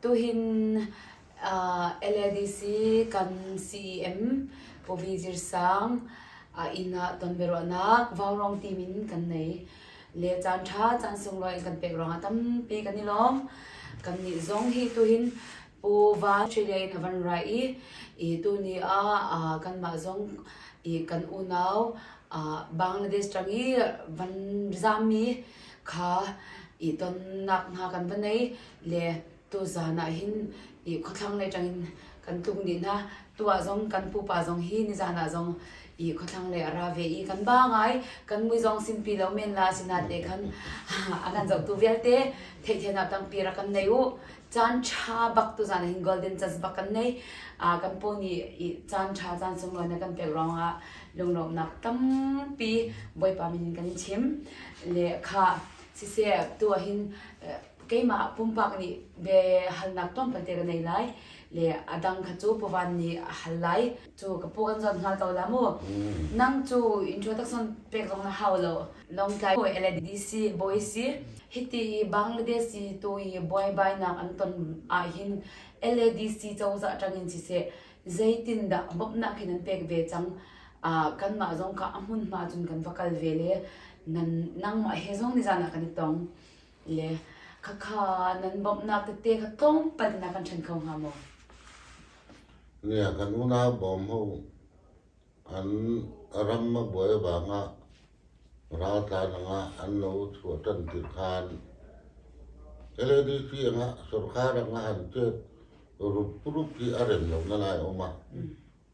Tuhin LADC kan CEM Povi Zirsang inn ah tonbiaruahnak vaurong team in kan nei. Le caan ṭha caan sunglawi in kan pek ruangah tampi kan i lawm. Kannih zong hi tuhin Pu Va Ṭhi Lei na van ra i, i tuni ah uh, kanmah zong i kan unau uh, Bangladesh ṭang i van zaammi kha i tonnak hna kan va nei le tuzaan ah hin i khawthlanglei ṭang in kan tlung dih hna. Tuah zong kan pupa zong hi nizaan ah zong i khawthlanglei a ra ve i kan ba ngai kan mui zong sinpi lo men la sinat le khan a kan zohtu vialte theithianap tangpi rak kan nei u Caanṭha bak tuzaan hin golden chance bak kan nei. Uh, kan po nih caanṭha caan sunglawi na kan pek ruangah lunglawmnak tampi bawipa min in kan in chim. Le kha siseh tu hin keimah pumpak nih be halnak tom pante ka nei lai. Le adang kha cu puvan nih a hal lai. Cu ka pu an zon hla ko la mu. Nang cu introduction pek zong na hau lo. Longtlai hawi LADC bawi si. Hiti i Bangladesh i tu i buaibainak an ton ah hin LADC cozah tangin siseh zeitin dah bawmhnak hin an pek ve cang. Ah kanmah zong ka a hmunhma cun kan va kal ve le nan nangmah he zong nizan ah kan i tong. le khakha nan bawmhnak tete kha tlawmpal na kan ṭhen kho hnga maw? Ne kan unau bawm ho an ram a buai bang ah raltlan angah an no thu a ṭan tir khan LADC angah sorkar angah an ṭet rup rup hi a rem lo na lai awm ah.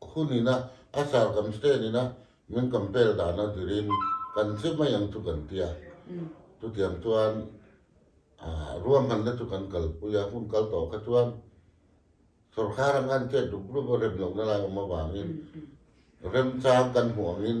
Khun inn ah a car kan sten inn ah min kan pel dan a dir in kan si mei ang cu kan tia. Tutiang cun ah, ruahmannak cu kan kal pui a hun kal tawk ah cun sorkar ang an ket dup rup a rem lo na lai um avang in remcang kan hmuang in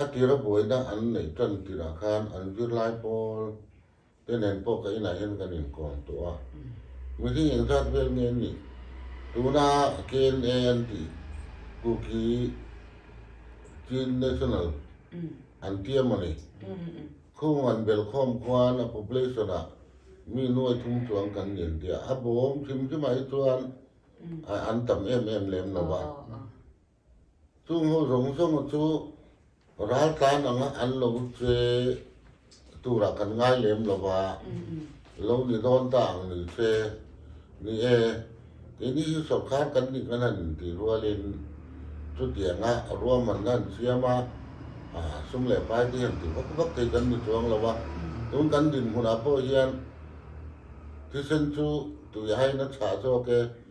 A tir a buainak an neih ṭan tir ahkhan an virlai pawl teinen pawl ka inn ahhin kan in kawm tuah. Mihring eng zat vel nge nih tunah KNA an ti Kuki Chin National an tiam a ni. Khung an bel khawm khuan a population ah mi nuai thum chuang kan ngen tiah a bawm hrimhrim ahcun an tam em em lem lo ah Cu ngo zong zong cu raltlan ang ah an lo cuai tu ah kan ngai lem lo a. Lo nih dawn ta ang ni cuai ni ee. Tini hi sawrkar kan nih kan han in ti rual in cutiang ah ruam an han siam a. Ah, sum le pai ti han ti vak vak thei kan ni chuang lo a. Tun kan din hmunah pawh hian thisen cu tui hai na chah zawk e.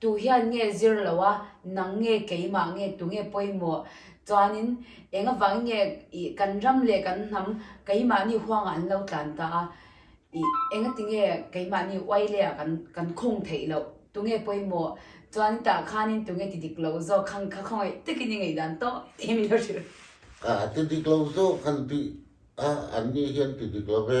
Tuhian nge zir lo a nang nge keimah nge tunge poi maw? Cun in engavang nge i kan ram le kan hnam keimah nih huang ah an lo tlan ta a i engatinge keimah nih uai le ah kan kan khung theih loh? Tunge poi maw? Cun itah khan in tunge ti dik lo zaw khang kha khawngaih tekin i ngaih dan toh timi na hrilh. A ti dik lo zaw kan ti ah annih hi an ti dik lo ve.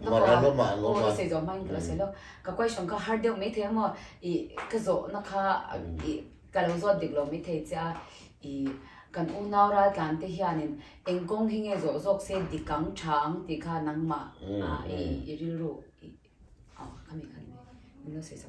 Ko se zo man ka se lo ka question ka har deuh mai thei mo i ka zo na kha i ka lo zo dik lo mai thei cha i kan unau ral tlan te hian in engkong hinge zo zok se dikang chang ti kha nangma i rilru i kami kan no se zo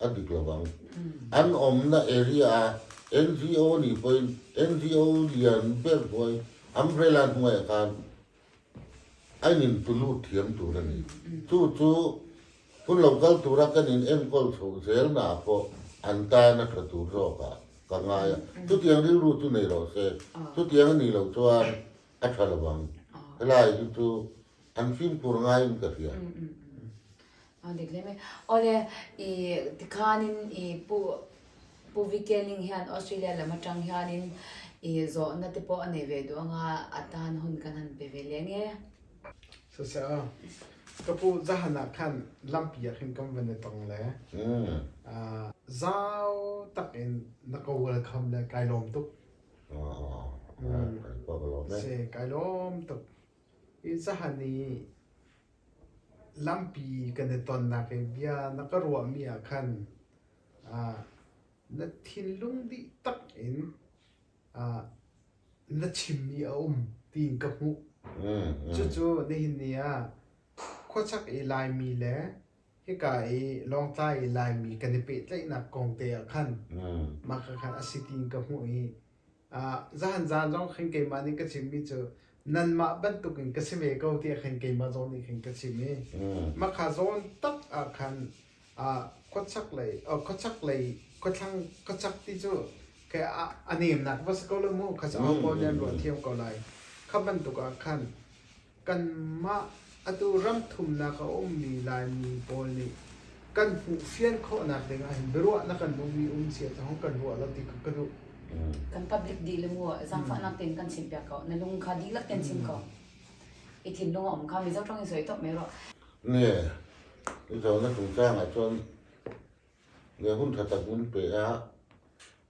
a dik lo bang, an umnak area ah NGO nih poi NGO lian berbuai umbrella hnuai a kan ainin tulu thiam tur a ni. Cu cu hun lo kal tur a kan in enkawl tho zel na pawh an ta na tha tur zawk ah ka ngai. Tutiang rilru cu nei lo se, tutiang a ni lo chuan a tha lo bang. Helai hi cu an fimkur ngai in ka hria. Aa dik lem e. Ole i tikanin i pu pu Vikeling hian Australia lam atang hianin i zawhna te pawh a nei ve duang a, atan hun kan han pe ve leng e. Siseh, ka pu zahan ah khan lampi ah khin kan van i tong le. Ah, zau tak in na ka welcome le kai lawm tuk. Se kai lawm tuk. I zahan i Lampi kan i tonnak hi bia na ka ruahmi ah khan na thinlung dih tak in na chimmi a um tiin ka hmuh. Cucu nihin ni ah khuachak i Laimi le hika i Lawngtlai i Laimi kan i pehtlaihnak kong te ah khan mah kha khan a si tiin ka hmuh i Zahan zaan zong khin keimah nih ka chimmi cu nanmah bantuk in ka si ve ko tiah khin keimah zawn nih khin ka chim i mahka zawn tak ah khan khuachak lei khuachak lei khuathlang khuachak ti cu a nemnak va si ko la mu kha ca ko ne an ruah thiam ko lai kha bantuk ah khan Kanmah atu ram thumnak a ummi Laimi pawl nih kan hmuh fian khawhnak ding ahhin biaruahnak kan ummi um si ahcun kan ruah lo ti kha ka duh. Kan public dihlak mu zaangfahnak tein kan chim piak ko. Na lung kha dihlak tein chim ko. I thinlung a um kha Mizo ṭang in soi top mai ruah. Ne, i zohnak chungcang ahcun le hun ṭha tak mun pe ah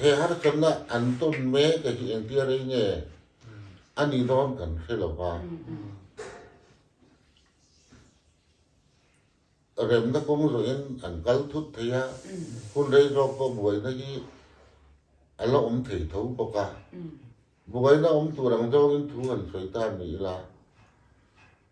He harchan ah an ton ve te hi eng tiar ei nge an i nawn kan hre lo va. Remna kong zo in an kal thut thei a hun rei rok ko buai na hi ala om thei tho bok a buai na om tu rang zong in thu han soi ta ni la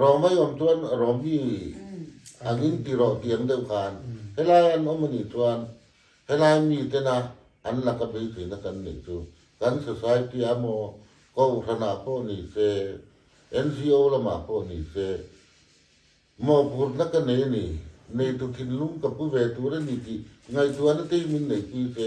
Rong mei om tuan rong hi an in ti rawh tiang deuh khan helai an om ani tuan helai mi te na an laka pei thi na kan ning chu kan society a mo ko hrana pawh ni se NGO lama pawh ni se mo pur na ka ne ni nei tu thin lung ka pu ve tur ani ti ngai tuan te min nei pi se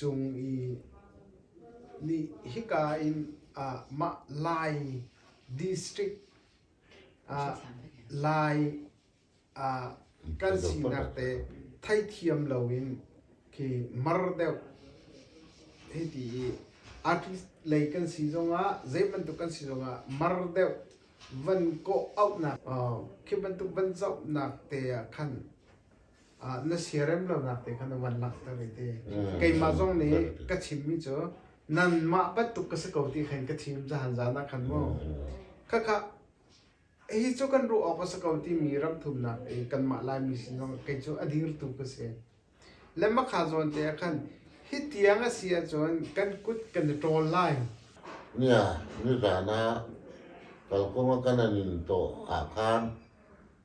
cung i nih hika in ah mah Lai district ah Lai ah kan sinak te theithiam loin khi mar deuh hei ti i artist lei kan si zongah zei bantuk kan si zongah mar deuh van kawh auhnak khi bantuk van zohnak te ah khan na siarem lonak te kha na van langhter i ti. Keimah zong nih ka chimmi cu nanmah bantuk ka si ko ti khan ka thim zahan zaan ah khan mu. Khakha hi cu kan ruah awk a si ko timi ramthumnak i kanmah Laimi sin zong kei cu a dirtu ka si. Le makha zawn te ah khan hi tiang a si ahcun kan kut kan i ṭawl lai. Nia, nizaan ah kalkawng a kan in tawh ah khan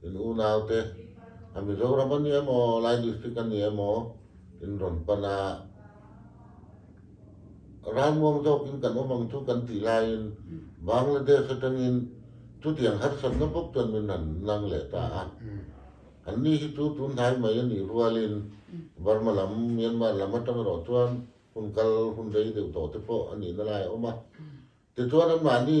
In unaute, a Mizoram an nih maw, Lai District an nih maw, in ron panh ah ralmuang zawk in kan um ang cu kan ti lai in Bangladesh atang in tutiang harsat na buk chuan min han nang leh ta a. An ni hi chu tun hnai mai a nih rualin Burma lam, Myanmar lam atang ro chuan hun kal hun rei deuh to te pawh a nih na lai a um a. Tichuan anmahni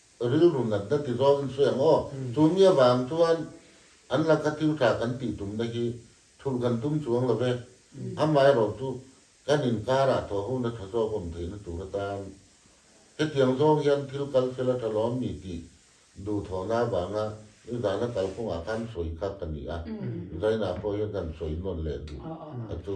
rilru nat na ti zong in sueng aw. Cu mi a van tuan an lak kha thilṭha kan tih tumnak hi thulh kan tum chuang lo ve. Amaherawhcu, kan inn kar ah thawhu na ṭha zawk um tein a tur a tam. Hitiang zong hian thil kal fel a ṭha lawmmi ti duhthawhnak vang ah nizan a kalkung ah khan sui kha kan i ah. Zainah pawh hi kan sui nawn leh duh. Atu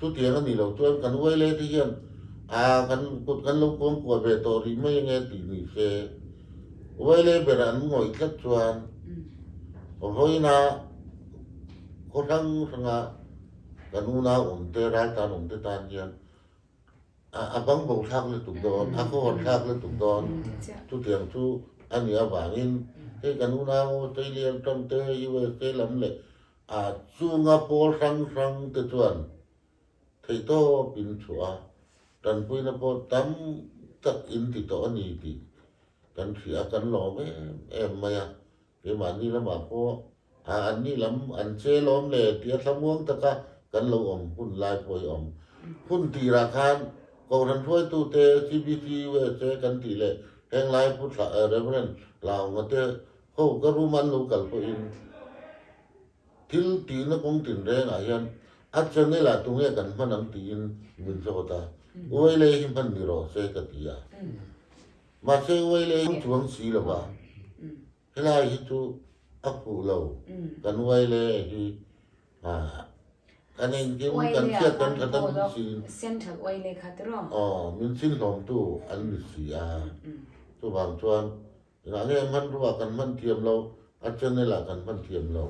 Cutiang an i lo cun kan uai le nih hin kan lo kuangkua ve taw rih mei a nge timi si. Uai le ber ah an ngawih tlat cun vahoinah khua hranghrang ah kan unau um te ralkap um te tan hin a bangbo thlak le tuk tawn, a khuahuan thlak le tuk tawn. Cutiang cu an i a vang in hei kan unau teilian ṭam te USA lam le A cung a pawl hranghrang te cun theitawp in a chuah. Tanpuina pawl tam tak in ti tawh a ni ti kan hrih a kan lawm em em mai a. Keimah ni lamah pawh a an ni lam an che lawm le tia thlamuang taka kan lo awm hun lai pawh i awm. Hun tira khan kohhran hruaitu te CBT, USA kan ti le henglai pu Reverend Laung te Hau ka room an lo kal pawh in thil ti na kong tin reng ah hian a channel ah tunge kan hman ang tiin min zawt a uai le hi hman ni ro se ka ti a ma se uai le hi chuang si lo ba helai hi chu a ku lo kan uai le hi a kan engkim kan chiat kan thatam si central oi le kha tiro oh min sin hlom tu an ni si a tu bang chuan Hlahhlehman ruah ah kan hman thiam lo, a channel ah kan hman thiam lo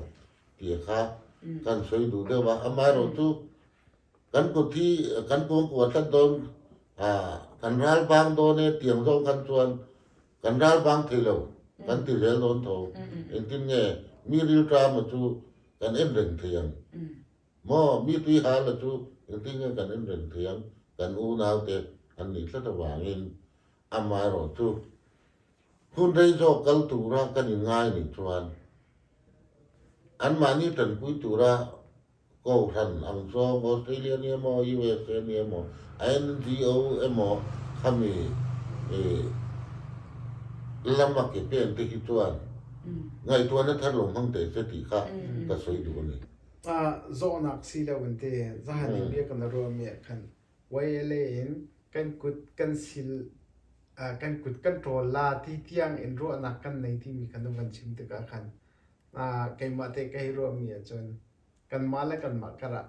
ti kha kan soi duh deuh a. Amaherawhchu kan kut hi kan kongkua thlat dawn kan ralpang dawn e tiang zong kan chuan kan ralpang thei lo kan ti rel dawn tho. Entin nge mi rilṭa ma cu kan in reng thei ang. Mo mi tui hal la cu entin nge kan in reng thei ang. Kan unaute an nih tlat avangin Amah erawh cu hnunhrei zaw kal tura kan i ngai nih cun anmah nih ṭanpui tura kohhran ang cuang Australia nih emaw USA nih emaw NGO emaw khami lam a ke pen te khi chuan ngaihtuah na thar lo hmang te seh ti kha ka soi duh a ni. Zawhnak si lo in ti zahan in biak na ruahmi ah khan Wayale in kan kut kan sil, uh, kan kut kan ṭawl la ti tiang in ruahnak kan nei timi kha nu kan chim tikah khan uh, keimah te ka i ruahmi ahcun kanmah le kanmah karah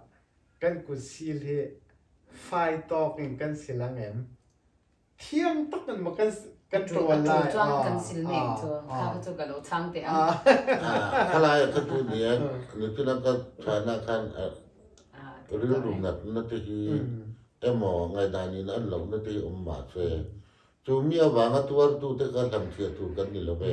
kan kut sil hi fai tawk in kan sil a ngem? thiang tuk in maw kan kan ṭawl lai cuang kan sil ning cu kha cu ka lo chang te ang khalai kan tu ni an nikin kan China kan rilrum nat na te hi emo ngai dan in an lo na te hi um ma se chu mi awang a tuar tu te ka hlam thia tur kan ni lo ve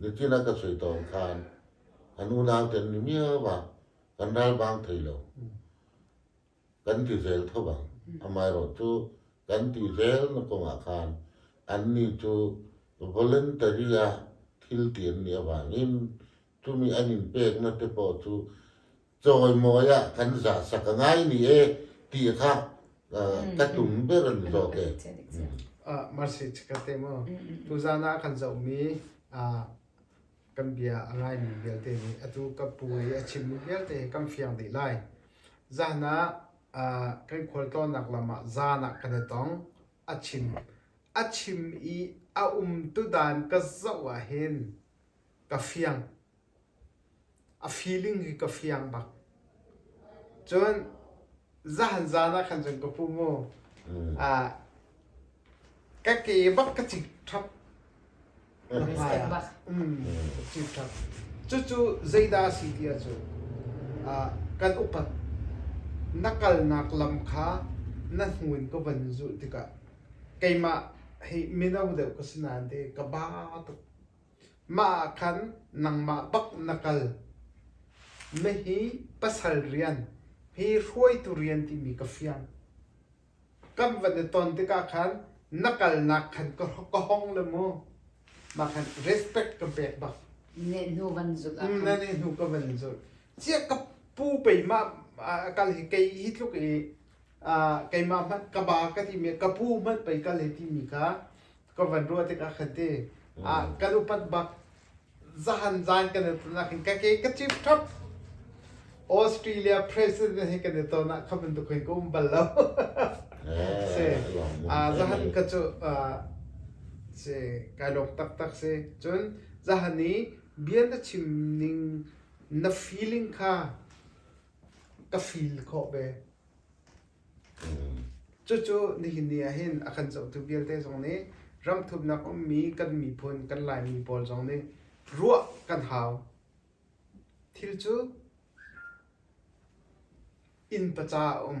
Nitin a ka soi tawn khan an unau ten ni miau ah kan ral bang thei lo kan ti zel tho bang amaherawh cu kan ti zel na kong ah khan annih cu voluntary ah thil ti an nih avangin cumi an in pekna te pawh cu Cawimawi ah kan za sak a ngai ni e ti kha tatum ber an zo te. Marsi ka te mo. Tu zan ah kan zomi kan bia a ngai mi vialte nih atu ka pu i a chim mi vialte kan fiang dih lai. Zan ah kan khualtlawnnak lam ah zan ah kan i tong. A chim. A chim i a um tudan ka zoh ah hin ka fiang. A feeling hi ka fiang bak. Cun zahan zaan ah khan cun ka pu mu ah, ka ke bak ka cik ṭhap. Step bak. Mm, ka cik ṭhap. Cucu zeidah a si ti ah cu, ah, kan upat na kalnak lam kha na hnun ka van zulh tikah keimah hi mino deuh ka si nain te ka ba tuk. Mah ah khan nangmah bak na kal. Na hi pasal rian, hi hruaitu rian timi ka fiang. Kan van i ton tikah khan na kalnak khan ka ka hong le maw. Mah khan respect ka pek bak. Nehnu van zulh ah Mm, na nih hnu ka van zulh. Chiah ka pu pei mah a- kal hi kei hi tluk i keimah hmanh ka ba ka timi ka pu hmanh pei kal he timi kha ka van ruah tikah khan ti kan upat bak zahan zan kan i ton nakin ka ke ka chip thap Australia president he kan i ton nak kha bantuk hin ka um bal lo se zahan ka chu se kai lok tak tak se chun zahani bian na chim ning na feeling kha ka feel khawh ve. Cucu nihin ni ahhin a kan zohtu vialte zong nih ramthumnak ummi kan miphun kan Laimi pawl zong nih ruah kan hau. Thil cu inn paca a um.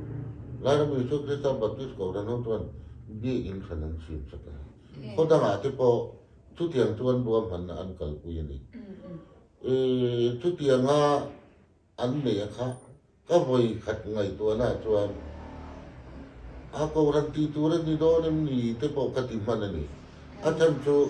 Lairami cu Christian Baptist Kohhran ho cu Biakinn thlen an chim a ti. Khuadang ah ti pawh cutiang cu an ruam hmanh ah an kalpui a ni. I cutiang ah an mei a khah. Ka voi khat ngaihtuahna chuan a kohhran ti tur an ni dawn em ni te pawh ka ti hman a ni. A chan cu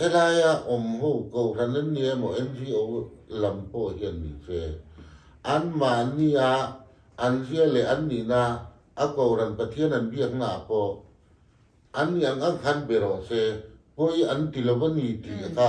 Helai ah um ho kohhran an ngei maw NGO lam paoh hi an ni ve. Anmahni ah an riah le an nin ah a kohhran Pathian an biaknak paoh annih an khan biaruah seh, puai an ti lo a ni ti kha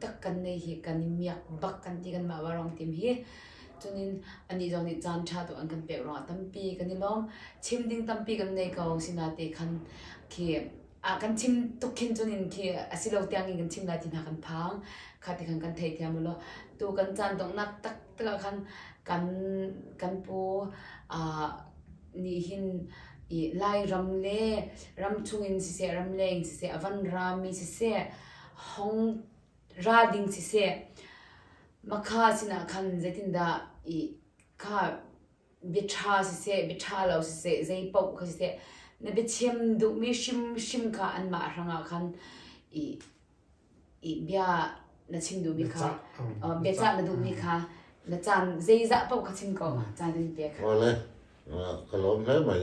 tak kan nei hi kan i miak bak kan ti kanmah vaarong tim hi. Cunin anih zong nih caan ṭha tu an kan pek ruangah tampi kan i lawm. Chim ding tampi kan nei ko, sinate khan khi a kan chim tuk khin cunin khi asi lo tiang in kan chim lai ti hna kan phang. Kha ti khan kan thei thiam ulaw tu kan caan donghnak taktak ah khan kan kan pu aa nih hin i Lairam le ram chung in siseh, ram leng in siseh, a van raami siseh, hong ra ding siseh makha sinah khan zeitindah i kha biaṭha siseh biaṭha lo siseh zei paoh kha siseh na biachim duhmi hrimhrim kha anmah hrangah khan i i bia na chim duhmi kha biacah na duhmi kha na caan zeizah paoh kha chim ko caan in pe kha. Wel ka lawm hle mai.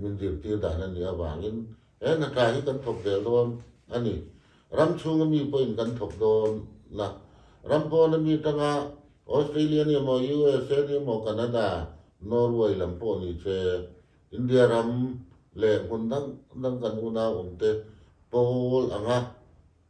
min dirhtir dai nan nih avangin eh na kaa hi kan thawk zel dawn ani ram chung a mi pawhin kan thawk dawn na ram pawn a mi tanga Australia ni maw USA ni maw Canada Norway lam pawh ni che India ram le hmun dang dang kan unau um te pawl anga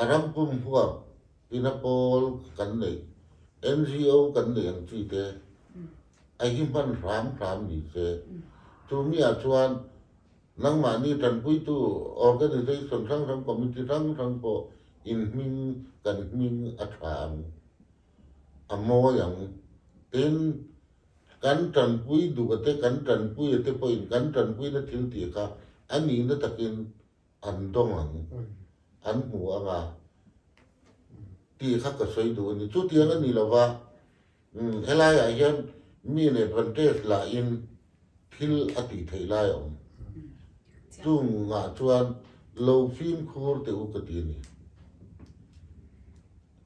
A ram pum huap, inn a pawl kan nei, NGO kan nei ang cu teh, a hi hman hramhram mi si. Cu mi ahcun nangmah nih ṭanpuitu organisation hranghrang, committee hranghrang pawl in hming, kan hming a ṭha ang. A mawi ang. Tin, kan ṭanpui duh a teh, kan ṭanpui a teh pawh in kan ṭanpuina thilti kha a ni na takin An dong ang. An hmu ang a. Ti kha ka soi duh ani. Cu tiang ani lo va. Helai ah hin mi le vanṭes la in thil a ti thei lai om. Cu ngah chuan lo fimkhur te u ka ti ni.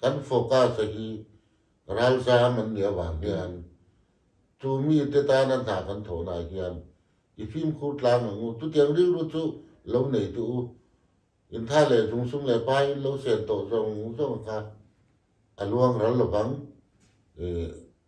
Kan focus hi ralzaam an nih avang hian cu mi teta nan hna kan thawn ah hian i fimkhur tlang ang u. Tutiang rilru cu lo nei tu u. In tha le sungsung le pa in lo sen to zong zong kha a luang ral lovang. E,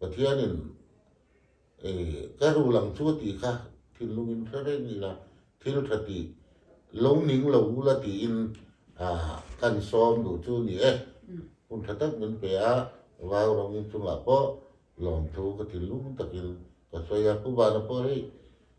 Pathian in tlerhruhlang cu a ti kha thinlung in hrereng ila, thil ṭha ti lungning lo u la tiin kan sawm nu cu ni e. Hmun ṭha tak min pe ah Vaurang in cungah pawh lawmthu ka thinlung takin ka suai a, ku van a pawh rih.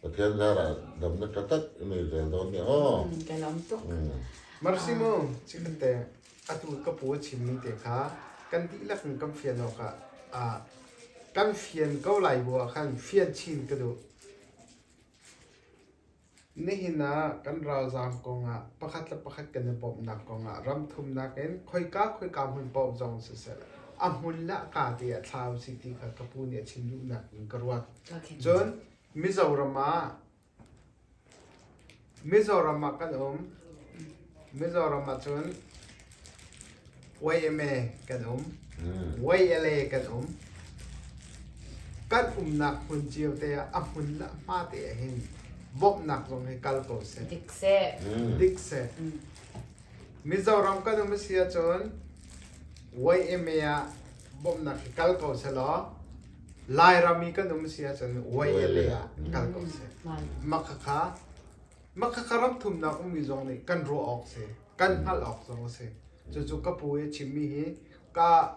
Pathian darah dam na tatak i mei zel dawn ne aw. Kan om tuk. Marsimo, chikhat te atu ka pu a chimmi te kha kan dihlak in kan fian awk ah ah kan fian ko lai bu ah khan fian chin ka duh. Nihin ah kan ralzaam kong ah pakhat le pakhat kan i bawmhnak kong ah ram thumnak in khoika khoika hmun paoh zong siseh a hmun le a ka te a thlau si ti kha ka pu nih a chim duhnak in ka ruat. Okay. Cun Mizoram ah Mizoram ah kan um. Mizoram ah cun YMA kan um. YLA kan um. Kan umnak hmun cio te ah a hmun le hma te ah hin bawmhnak zong hi kal ko seh. Dik seh. Dik seh. Mizoram kan um si ahcun YMA ah bawmhnak hi kal ko seh law Lairam i kan um si ahcun Wei le ah kal ko seh. Makhakha Makhakha ram thumnak ummi zong nih kan ruah awk si, kan hngalh awk zong a si. Cucu ka pu i chimmi hi ka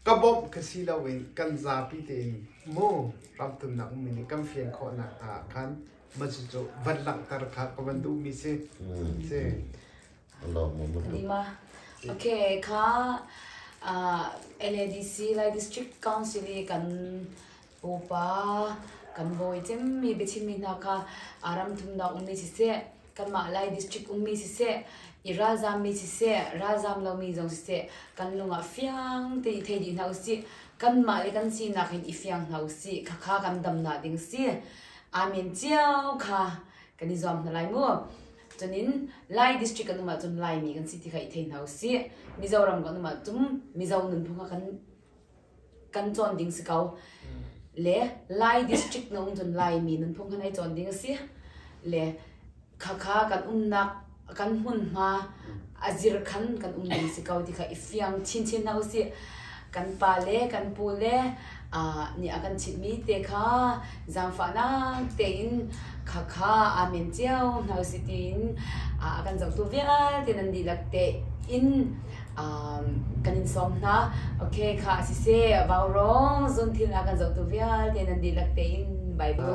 ka bawmh ka si loin kan zapi tein mu ram thumnak ummi nih kan fian khawhnak hna ah khan macucu van langhter kha ka van duhmi si. Si. Okay kha NADC Lai District Council i kan pupa kan bawi cemmi biachimmi hna kha ram thumnak ummi siseh kanmah Lai District ummi siseh i ralzaammi siseh ralzaam lomi zong siseh kan lungah fiang te i thei dih hna usih kanmah le kan sinak in i fiang hna usih khakha kan dam na ding si amen cio kha kan i zuam hna lai mu Cunin Lai district kan um ahcun Laimi kan si ti kha i thei hna usih. Mizoram kan um ahcun Mizo nunphung kha kan kan cawn ding si ko. Le Lai district na um cun Laimi nunphung kha nai cawn ding a si. Le khakha kan umnak kan hmunhma azir khan kan um ding si ko ti kha i fiang chinchin hna usih kan pa le kan pu le ni a kan chimh mi te kha zangfahnak tein kha kha amen cio hna usih tiin a kan zohtu vialte nan dihlak te in kan in sawm hna okay kha si se vaurong zun thil a kan zohtu vialte nan dihlak tein bible